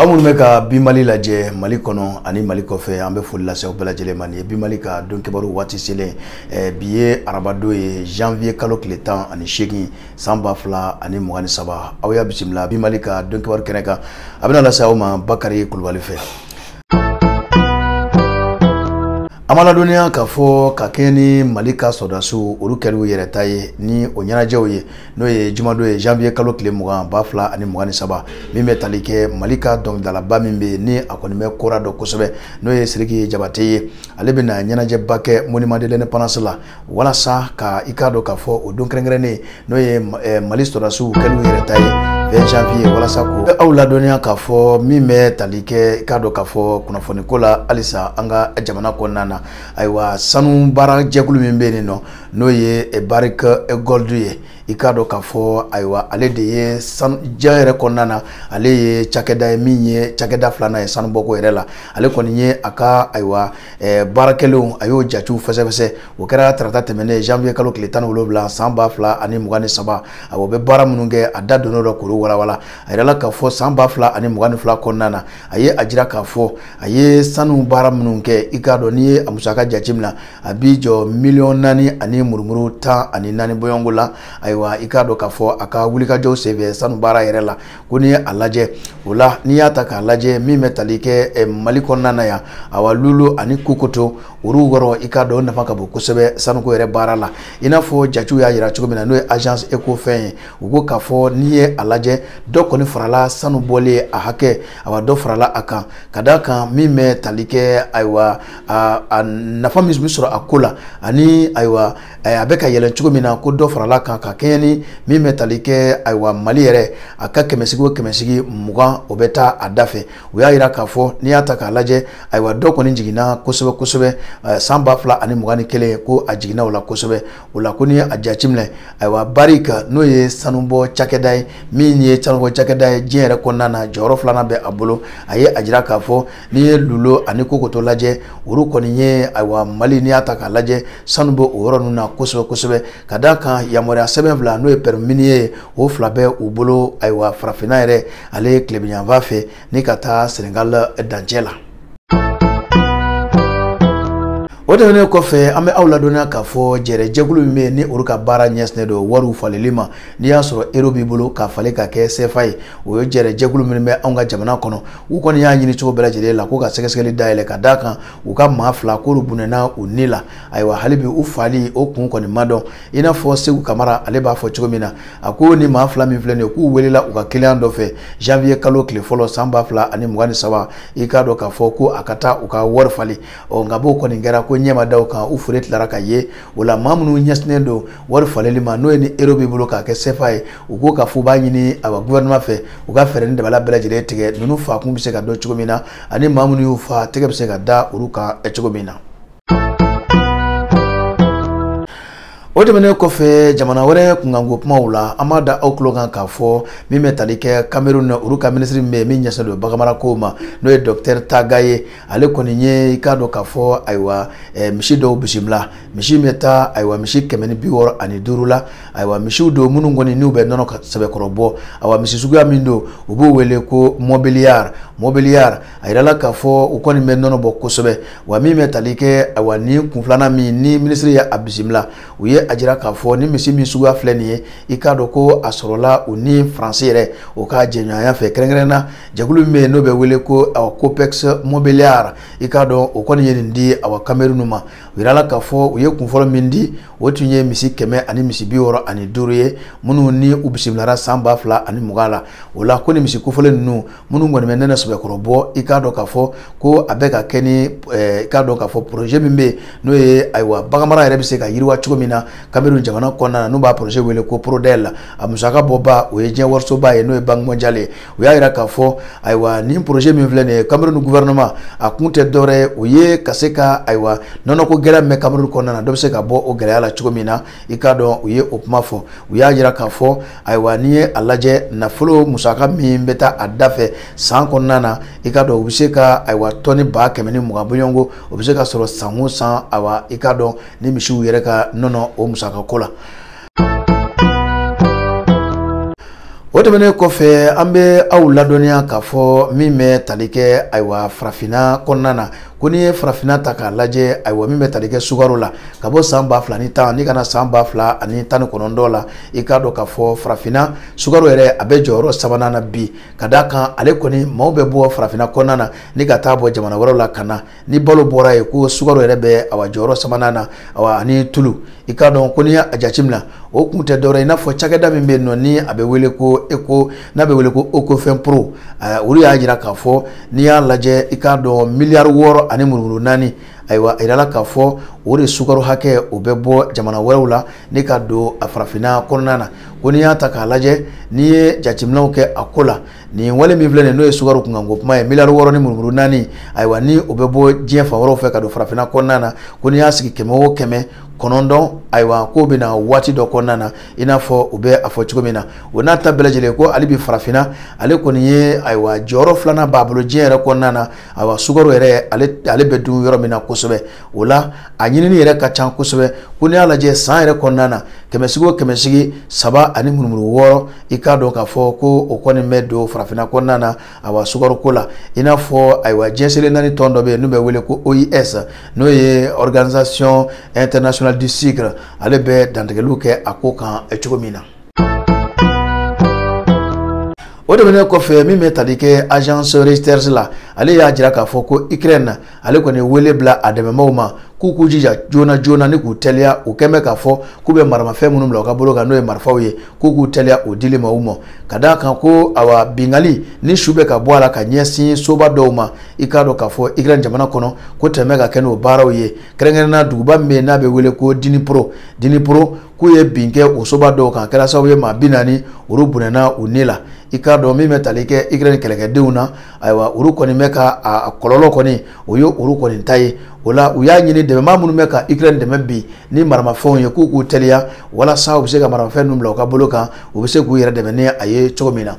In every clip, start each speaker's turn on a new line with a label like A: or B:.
A: aw minnu bɛ ka bi mali lajɛ mali kɔnɔ ani mali kɔfɛ an bɛ foli lase aw bɛɛ lajɛlen ma nin ye bi mali ka don kibaru waati selen eh, bi ye arabadon ye janvier kalo tile tan ani seegin san ba fila ani mugan ni saba aw y'a bisimila bi mali ka don kibaru kɛnɛ kan a bɛna lase aw ma bakari kulubali fɛ an b'aw ladɔnniya k'a fɔ ka kɛɲɛ ni mali ka sɔrɔdasiw olu kɛli u yɛrɛ ta ye ni o ɲɛnajɛw ye n'o ye jumadon ye janvier kalo tile mugan ba fila ani mugan ni saba min bɛ tali kɛ mali ka dɔnkilidalaba min bɛ yen ni a kɔni bɛ kora dɔn kosɛbɛ n'o ye siriki jabate ye ale bɛna ɲɛnajɛba kɛ monument de l'indépendance la walasa ka i k'a dɔn k'a fɔ o don kɛrɛnkɛrɛnnen n'o ye eh, mali sɔrɔdasiw kɛli u yɛrɛ ta ye 20 janvier walasa ko bɛ aw ladɔnniya k'a fɔ min bɛ tali kɛ i k'a dɔn k'a fɔ kunnafoniko la halisa an ka jamana kɔnɔna na ayiwa sanu baara jɛkulu min bɛ yen n'o n'o ye barrick gold ye i k'a dɔn k'a fɔ ayiwa ale de ye sanu diɲɛ yɛrɛ kɔnɔna na ale ye cakɛda ye min ye cakɛda filanan ye sanubɔko yɛrɛ la ale kɔni ye a ka ayiwa baarakɛlenw a y'o jatew fɛsɛfɛsɛ o kɛra tarata tɛmɛnen janvier kalo tile tan ni wolonwula san ba fila ani mugan ni saba a o bɛ baara minnu kɛ a da donn'o la k'olu walawala a y'a jira k'a fɔ san ba fila ani mugan ni fila kɔnɔna na a ye a jira k'a fɔ a ye sanu baara minnu kɛ i k'a dɔn n'i ye a musaka jateminɛ a b'i jɔ miliyɔn naani ani murumuru tan ani naani bɔɲɔgɔnko la ayiwa i k'a dɔn k'a fɔ a ka wulikajɔw senfɛ sanu baara yɛrɛ la ko n'i ye a lajɛ o la n'i y'a ta k'a lajɛ min bɛ tali kɛ eh, mali kɔnɔna na yan awa lulo ani kokoto olu yɔrɔ i k'a dɔn o nafa ka bon kosɛbɛ sanuko yɛrɛ baara la i n'a fɔ jatew y'a jira cogo min na n'o ye agence ecofin ye u ko k'a fɔ n'i ye a lajɛ dɔ kɔni farala sanu bɔlen a hakɛ awa dɔ farala a kan ka d'a kan min bɛ tali kɛ ayiwa a a nafa min bɛ sɔrɔ a ko la ani ayiwa a bɛ ka yɛlɛn cogo min na ko dɔ farala a kan ka kɛɲɛ ni min bɛ tali kɛ ayiwa mali yɛrɛ a ka kɛmɛsigi o kɛmɛsigi mugan o bɛ taa a da fɛ u y'a jira k'a fɔ n'i y'a ta k'a lajɛ ayiwa dɔ kɔni jiginna kosɛbɛ kosɛbɛ san ba fila ani mugan ni kelen ko a jiginna o la kosɛbɛ o la ko n'i y'a jateminɛ ayiwa barrick n'o ye sanubɔ cakɛda ye min ye sanubɔ cakɛda ye diɲɛ yɛrɛ kɔnɔna na jɔyɔrɔ filanan bɛ a bolo a ye a jira k'a fɔ n'i ye lulo ani kokoto lajɛ olu kɔni ye ayiwa mali n'i y'a ta k'a lajɛ sanu bɛ o yɔrɔ ninnu na kosɛbɛ kosɛbɛ ka d'a kan yamaruya sɛbɛn fila n'o ye permis minier ye o fila bɛ u bolo ayiwa farafinna yɛrɛ ale tilebinyanfan fɛ ni ka taa senegal dancɛ la o tɛmɛnen kɔfɛ an bɛ aw ladɔnniya k'a fɔ jɛrɛjɛkulu min bɛ yen ni olu ka baara ɲɛsinnen don wariw falili ma n'i y'a sɔrɔ ero b'i bolo k'a falen ka kɛ sefa ye o ye jɛrɛ jɛkulu min bɛ anw ka jamana kɔnɔ u kɔni y'a ɲini cogo bɛɛ lajɛlen la ko ka sɛgɛsɛgɛli dayɛlɛ ka d'a kan u ka maa fila k'olu bɔnɛna u ni la ayiwa hali bi u fali o kun kɔni ma dɔn i n'a fɔ segu kamara ale b'a fɔ cogo min na a ko nin maa fila min filɛ nin ye k'u welela u ka kiliyan dɔ fɛ janvier kalo tile fɔlɔ san ba fila ani mugan ni saba i k'a dɔn k'a fɔ ko a ka taa u ka wari falen ɔ nka b'o kɔni kɛra ko ɲɛma da kan u fure tilara ka ye o la maa minnu ɲɛsinnen don wari faleli ma n'o ye ni ero b'i bolo k'a kɛ sefa ye u ko k'a fɔ u b'a ɲini awa gouvernement fɛ u ka fɛɛrɛ ni dabali bɛɛ lajɛlen tigɛ ninnu faakun bɛ se ka dɔn cogo min na ani maa minnu y'u fa tɛgɛ bɛ se ka da olu kan cogo min na o tɛmɛnen kɔfɛ jamana wɛrɛ kunkanko kumaw la an b'a da aw tulo kan k'a fɔ min bɛ tali kɛ kamerun na olu ka minisiri min bɛ yen min ɲɛsinnen don baganmarako ma n'o ye dɔkitɛri taga ye ale kɔni ye i k'a dɔn k'a fɔ ayiwa eh, misi dɔw bisimila misi bɛ taa ayiwa misi kɛmɛ ni bi wɔɔrɔ ani duuru la ayiwa misiw don minnu kɔni n'u bɛ nɔnɔ sɛbɛkɔrɔ bɔ ayiwa misi suguya min don u b'o wele ko mɔbiliyari mɔbiliyari a yirala k'a fɔ u kɔni bɛ nɔnɔ bɔ kosɛbɛ wa min bɛ tali kɛ ayiwa nin kun filanan min ni minisiri ye a bisimila u ye a jira k'a fɔ nin misi min suguya filɛ nin ye i k'a dɔn ko a sɔrɔla u ni faransi yɛrɛ o ka jɛɲɔgɔnya fɛ kɛrɛnkɛrɛn na jɛkulu min bɛ yen n'o bɛ wele ko coopex mɔbiliyari i k'a dɔn o kɔni ye nin di awa kamerun ma u yirala k'a fɔ u ye kunfɔlɔ min di o tun ye misi kɛmɛ ani misi bi wɔɔrɔ ani duuru ye minnu ni u bisimilara san ba fila ani mugan la o la ko nin misi kofɔlen ninnu minnu kɔni bɛ nɔnɔ sɛbɛkɔrɔ bɔ i k'a dɔn k'a fɔ ko a bɛ ka kɛ ni i k'a dɔn k'a fɔ poroze min bɛ yen n'o ye ayiwa baganmara yɛrɛ bɛ se ka yiriwa cogo min na kamerun jamana kɔnɔna na n'u b'a poroze wele ko porodɛli a musaka bɔba o ye diɲɛ warisoba ye n'o ye banki mɔndiyali ye u y'a jira k'a fɔ ayiwa nin poroze min filɛ nin ye kamerun guvɛrɛnɛma a kun tɛ dɔwɛrɛ ye o ye ka se ka ayiwa nɔnɔko gɛlɛya min bɛ kamerun kɔnɔna na dɔ bɛ se ka bɔ o gɛlɛya la cogo min na i k'a dɔn u ye o kuma fɔ u y'a jira k'a fɔ ayiwa n'i ye a lajɛ nafolo musaka min bɛ taa a da fɛ san kɔnɔna na i k'a dɔn u bɛ se ka ayiwa tɔni ba kɛmɛ ni mugan bɔɲɔgɔnko o bɛ se ka sɔrɔ san o san ayiwa i k'a dɔn nin misiw yɛrɛ ka nɔnɔ o musakako la. o tɛmɛnen kɔfɛ an bɛ aw ladɔnniya k'a fɔ min bɛ tali kɛ ayiwa farafinna kɔnɔna na ko n'i ye farafinna ta k'a lajɛ ayiwa min bɛ tali kɛ sukaro la ka bɔ san ba fila ni tan ni ka na san ba fila ani tan ni kɔnɔntɔn la i k'a dɔn k'a fɔ farafinna sukaro yɛrɛ a bɛ jɔyɔrɔ sabanan na bi ka d'a kan ale kɔni maaw bɛ bɔ farafinna kɔnɔna na ni ka taa bɔ jamana wɛrɛw la ka na ni balo bɔra ye ko sukaro yɛrɛ bɛ awa jɔyɔrɔ sabanan na awa ani tulu i k'a dɔn ko n'i y'a jateminɛ o kun tɛ dɔwɛrɛ i n'a fɔ cakɛda min bɛ yen nɔ ni a bɛ wele ko eko n'a bɛ wele ko ecofin pro olu y'a jira k'a fɔ n'i y'a lajɛ i k'a dɔn miliyari wɔɔrɔ ani murumuru naani ayiwa a jirala k'a fɔ o de sukaro hakɛ o bɛ bɔ jamana wɛrɛw la ni ka don a farafinna kɔnɔna na ko n'i y'a ta k'a lajɛ n'i ye jateminɛw kɛ a ko la nin wale min filɛ nin n'o ye sukaro kunkanko kuma ye miliyari wɔɔrɔ ni murumuru naani ayiwa ni o bɛ bɔ diɲɛ fan wɛrɛw fɛ ka don farafinna kɔnɔna na ko n'i y'a sigi kɛmɛ o kɛmɛ kɔnɔntɔn ayiwa k'o bɛna waati dɔ kɔnɔna na i n'a fɔ u bɛ a fɔ cogo min na o n'a ta bɛɛ lajɛlen ko hali bi farafinna ale kɔni ye ayiwa jɔyɔrɔ filanan b'a bolo diɲɛ yɛrɛ kɔnɔna na ayiwa sukaro yɛrɛ ale ale bɛ dun yɔrɔ min na kosɛbɛ o la a ɲinini yɛrɛ ka ca kosɛbɛ ko n'i y'a lajɛ san yɛrɛ kɔnɔna na kɛmɛsigi o kɛmɛsigi saba ani murumuru wɔɔrɔ i k'a dɔn k'a fɔ ko o kɔni bɛ don farafinna kɔnɔna na awa sukaroko la i n'a fɔ ayiwa diɲɛ seleke naani tɔn dɔ bɛ yen n'u bɛ wele ko ois n'o ye organisation internationale du sucre ale bɛ dantigɛliw kɛ a ko kan cogo min na. o tɛmɛnen kɔfɛ min bɛ tali kɛ agence reuters la ale y'a jira k'a fɔ ko ukraine ale kɔni ye wele bila a dɛmɛbaaw ma k'u k'u jija joona joona ni k'u teliya u kɔni bɛ k'a fɔ k'u bɛ maramafɛn minnu bila u ka bolo kan n'o ye marifaw ye k'u k'u teliya o dili ma u ma ka d'a kan ko awa binkanni ni su bɛ ka bɔ a la ka ɲɛsin soba dɔw ma i k'a dɔn k'a fɔ ikirɛn jamana kɔnɔ ko tɛmɛ ka kɛ n'o baaraw ye kɛrɛnkɛrɛnna duguba min bɛ yen n'a bɛ wele ko diniporo diniporo k'u ye bin kɛ o soba dɔw kan kɛra sababu ye maa bi naani olu bɔnɛna u ni la i k'a dɔn min bɛ tali kɛ ikirɛn kɛlɛkɛdenw na ayiwa olu kɔni bɛ ka a kɔlɔlɔ kɔni o ye olu kɔni ta ye o la u y'a ɲini dɛmɛbaa minnu bɛ ka ukraine dɛmɛ bi ni maramafɛnw ye k'u k'u teliya walasa u bɛ se ka maramafɛn ninnu bila u ka bolo kan u bɛ se k'u yɛrɛ dɛmɛ ni a ye cogo min na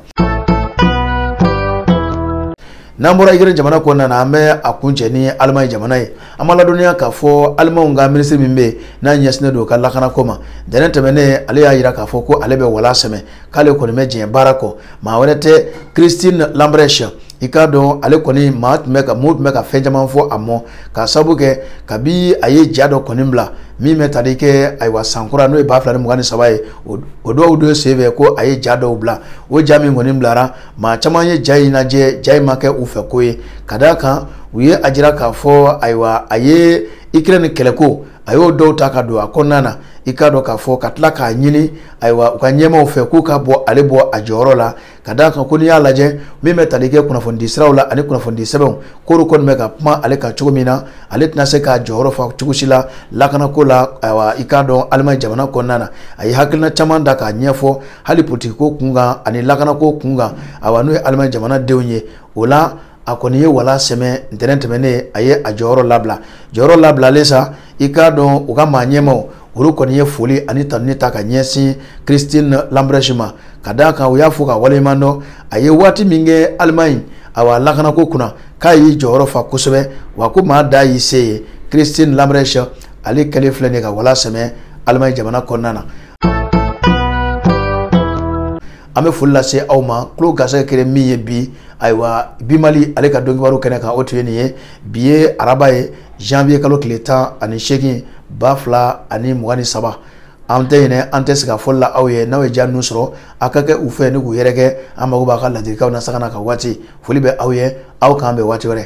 A: n'an bɔra ukraine jamana kɔnɔna na an bɛ a kuncɛ ni alemaɲi jamana ye an b'a ladɔnniya k'a fɔ alemaw ka minisiri min bɛ yen n'a ɲɛsinnen don ka lakanako ma ntɛnɛn tɛmɛnen ale y'a jira k'a fɔ ko ale bɛ wala sɛmɛ k'ale kɔni bɛ diɲɛ baara kɔ maa wɛrɛ tɛ christine lambrecht i k'a dɔn ale kɔni maa tun bɛ ka mun tun bɛ ka fɛn caman fɔ a ma k'a sabu kɛ kabi a ye ja dɔ kɔni bila min bɛ tali kɛ ayiwa san kura n'o ye ba fila ni mugan ni saba ye o dɔw don senfɛ ko a ye ja dɔw bila o ja min kɔni bilara maa caman ye ja in lajɛ ja in ma kɛ u fɛko ye ka d'a kan u ye a jira k'a fɔ ayiwa a ye ikirɛni kɛlɛko a y'o dɔw ta ka don a kɔnɔna na i k'a dɔn k'a fɔ ka tila k'a ɲini ayiwa u ka ɲɛmaaw fɛ k'u ka bɔ ale bɔ a jɔyɔrɔ la ka d'a kan ko n'i y'a lajɛ min bɛ tali kɛ kunnafonidi siraw la ani kunnafonidi sɛbɛnw k'olu kɔni bɛ ka kuma ale kan cogo min na ale tɛna se k'a jɔyɔrɔ fa cogo si la lakanako la ayiwa i k'a dɔn alimani jamana kɔnɔna na a ye hakilina caman ta k'a ɲɛfɔ hali politikiko kun kan ani lakanako kun kan ayiwa n'o ye alimani jamana denw ye o la a kɔni ye wala sɛmɛ ntɛnɛn tɛmɛnen a ye a jɔyɔrɔ labila jɔyɔrɔ labilalen sa i k'a dɔn u ka maa ɲɛmaaw olu kɔni ye foli ani tanuni ta ka ɲɛsin christine lambrecht ma ka d'a kan u y'a fɔ ka waleɲuman dɔn a ye waati min kɛ alimaɲi awa lakanako kunna k'a y'i jɔyɔrɔ fa kosɛbɛ wa ko maa dan y'i se ye christine lambrecht ale kɛlen filɛ nin ye ka wala sɛmɛ alimaɲi jamana kɔnɔna na an bɛ foli lase aw ma tulo garisɛgɛ kɛlen min ye bi ayiwa bi mali ale ka donkibaru kɛnɛ kan o tun ye nin ye bi ye araba ye janvier kalo tile tan ani seegin ba fila ani mugan ni saba an tɛ ɲinɛ an tɛ siga a fɔli la aw ye n'aw ye ja ninnu sɔrɔ a ka kɛ u fɛ ni k'u yɛrɛkɛ an mago b'a ka ladilikanw na sagana ka waati foli bɛ aw ye aw k'an bɛn waati wɛrɛ